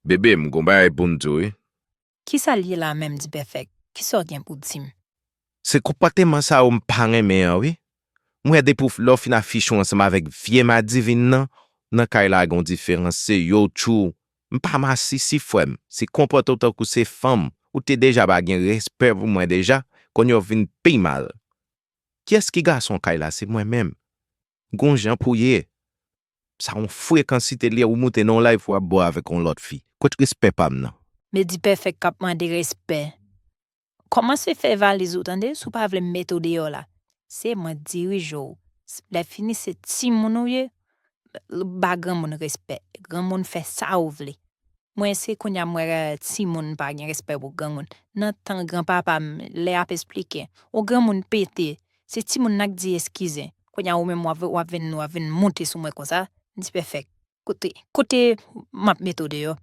Bebe m gon bagay poum di w wi. Kisa l ye la menm Dpèfèk, kisa w gen pou di m? Se konpòteman sa yo m pa renmen an wi. M wè depi w lè w fin afiche w ansanm avèk vye madivin nan, nan kay la gen yon diferans se yo w tjou M pa masisi frè m, si w konpòte w tankou se fanm, ou te deja pa gen respè pou mwen deja, kounye a w vin pi mal. Kiyès ki gason kay la se mwen menm. Gon jan pou ye. Sa yon frekansite li ou moute nan yon live wap bo avek yon lot fi. Kot respè pam nan. Medipèfèk kap mande respè. Komanse fè valiz ou tande si w pa vle m mete w deyò la. Se mwen k dirije w. Lè fini se timoun ou ye ba granmoun respè. Granmoun fè sa ou vle. Mwen se kounya m wè timoun pa gen respè pou granmoun. Nan tan granpapa m lè yap esplike yon granmoun pete Se timoun nan k di eskize. Kounya ou menm wap wap vin wap vin moute sou mwen konsa dipèfèk kote kote map mete w deyò.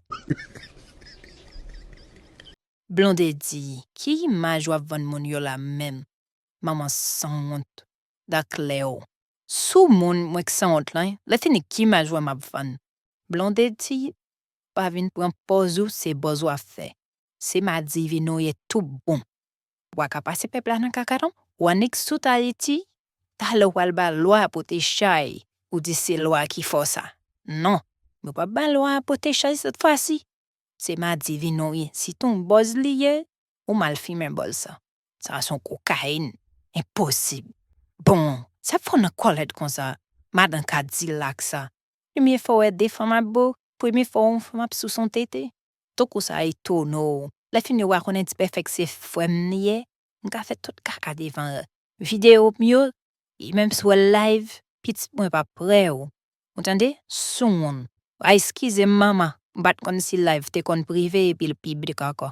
Blondedy ki imaj wap vann moun yo la menm manman sanwont daklew sou moun mwen k sanwont lan lè fini ki imaj wè map vann. Blondedy pa vin pran pòz ou se bòz wap fè se madivine ou ye tout bon. Wa ka pase pèp la nan kaka non. Wa nik tout ayiti talè wal ba lwa pote chay ou di se lwa ki fò sa non nou pap ba lwa pote chay sèt fwa si se madivin ou ye si ton bòz li ye ou mal fimen bòz sa sa son kokayin enposib bon sa fò nan kòlèt konsa madan kadilak sa premye fwa wè de fanm ap bo premye fwa wè yon fanm ap sous yon tete Tankou sa etone w lè fini wa konnen Dpèfèk se frè m li ye, m ka fè tout kaka devan l. Videyo m yo, e menm si w wè l live, pitit mwen pa prè w, ou tande, soumoun. A eskize m manman, m pa t konn si live te konn prive epi l piblik ankò.